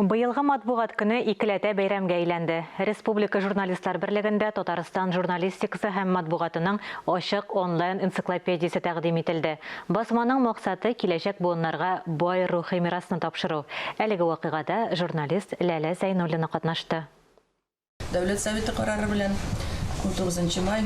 Быелгы матбугат көне икеләтә бәйрәмгә әйләнде. Республика журналистлар берлегендә Татарстан журналистикасы һәм матбугатының ачык онлайн энциклопедиясе тәкъдим ителде. Басманың максаты, киләчәк буыннарга бай рухи мирасны тапшыру. Әлеге вакыйгада журналист Ләлә Зәйнуллина катнашты. Дәүләт Советы карары белән 19 май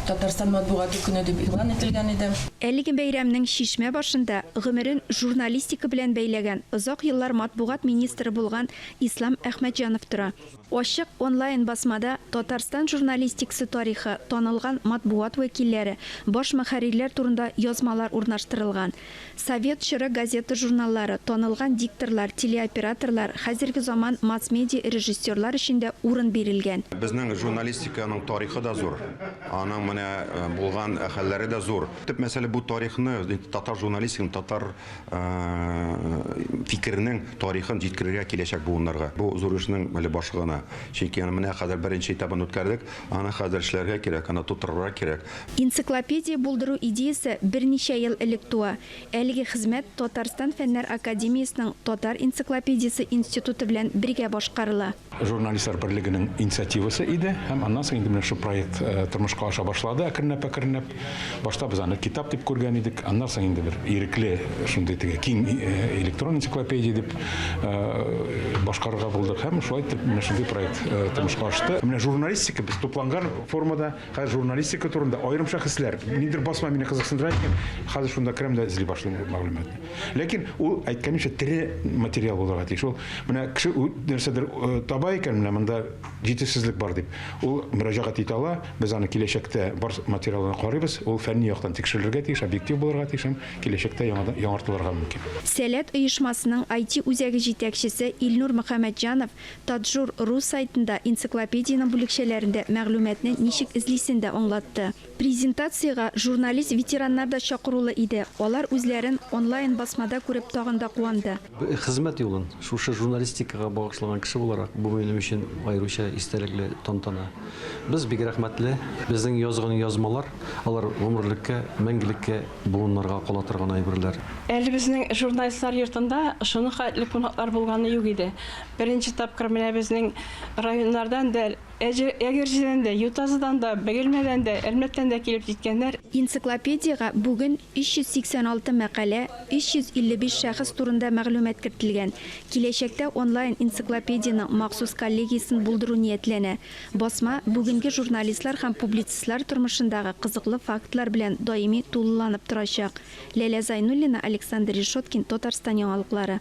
Татарстан матбугаты көне дип игълан ителгән иде. Әлеге бәйрәмнең чишмә башында гомерен журналистика белән бәйләгән, озак еллар матбугат министры булган Ислам Әхмәтҗанов тора. Ачык онлайн басмада Татарстан журналистикасы тарихы, танылган матбугат вәкилләре, баш мөхәррирләр турында язмалар урнаштырылган. Совет чоры газета-журналлары, танылган дикторлар, телеоператорлар, хәзерге заман масс-медиа режиссерлар өчен дә урын бирелгән. Безнең журналистиканың тарихы да зур, аның менә булган хәлләре дә зур. Төп мәсьәлә бу тарихны, татар журналистиканың, татар фикеренең тарихын җиткерергә киләчәк буыннарга. Бу зур эшнең әле башы гына. Чөнки аны менә хәзер беренче этабын үткәрдек. Аны хәзер эшләргә кирәк, аны тутырырга кирәк. Энциклопедия булдыру идеясе берничә ел элек туа. Әлеге хезмәт Татарстан Фәннәр академиясенең Татар энциклопедиясе институты белән бергә башкарыла. Журналистлар берлегенең инициативасы иде һәм аннан соң инде менә шушы проект тормышка аша башлады әкренләп-әкренләп. Башта без аны китап дип күргән идек, аннан соң инде бер ирекле шундый теге киң э, электрон энциклопедия дип э, башкарырга булдык һәм шулай итеп менә шундый проект э, тормышка ашты. Менә журналистика без тупланган формада хәзер журналистика турында аерым шәхесләр нидер басма мине кызыксындыра икән, хәзер шунда керәм дә эзли башлыйм бу мәгълүматны. Ләкин ул әйткәнемчә тере материал булырга тиеш. Ул менә кеше нәрсәдер таба икән, менә монда җитешсезлек бар дип, ул мөрәҗәгать итә ала, Без аны киләчәктә бар материалына карыйбыз, ул фәнни яктан тикшерелергә тиеш, объектив булырга тиеш һәм киләчәктә яңадан яңартылырга мөмкин. Сәләт оешмасының IT үзәге җитәкчесе Илнур Мөхәммәтҗанов Таджур. Ру сайтында энциклопедиянең бүлекчәләрендә мәгълүматны ничек эзлисен дә аңлатты. Презентациягә журналист-ветераннар да чакырулы иде, алар үзләрен онлайн-басмада күреп тагын да куанды. Хезмәт юлын шушы журналистикага багышлаган кеше буларак, бу минем өчен аеруча истәлекле тантана. Без бик рәхмәтле. Безнең язган язмалар, алар гомерлеккә, мәңгелеккә буыннарга кала торган әйберләр. Әле безнең Журналистлар йортында шуның хәтле кунаклар булганы юк иде. Беренче тапкыр менә безнең районнардан да, Әҗе, Әгерҗедән дә, Ютазыдан да, Бөгелмәдән дә, Әлмәттән дә килеп җиткәннәр. Энциклопедиягә бүген 386 мәкалә, 355 шәхес турында мәгълүмат кертелгән. Киләчәктә онлайн энциклопедиянең махсус коллегиясен булдыру ниятләнә. Басма бүгенге журналистлар һәм публицистлар тормышындагы кызыклы фактлар белән даими тулыланып торачак. Ләлә Зайнуллина, Александр Решеткин, Татарстан яңалыклары.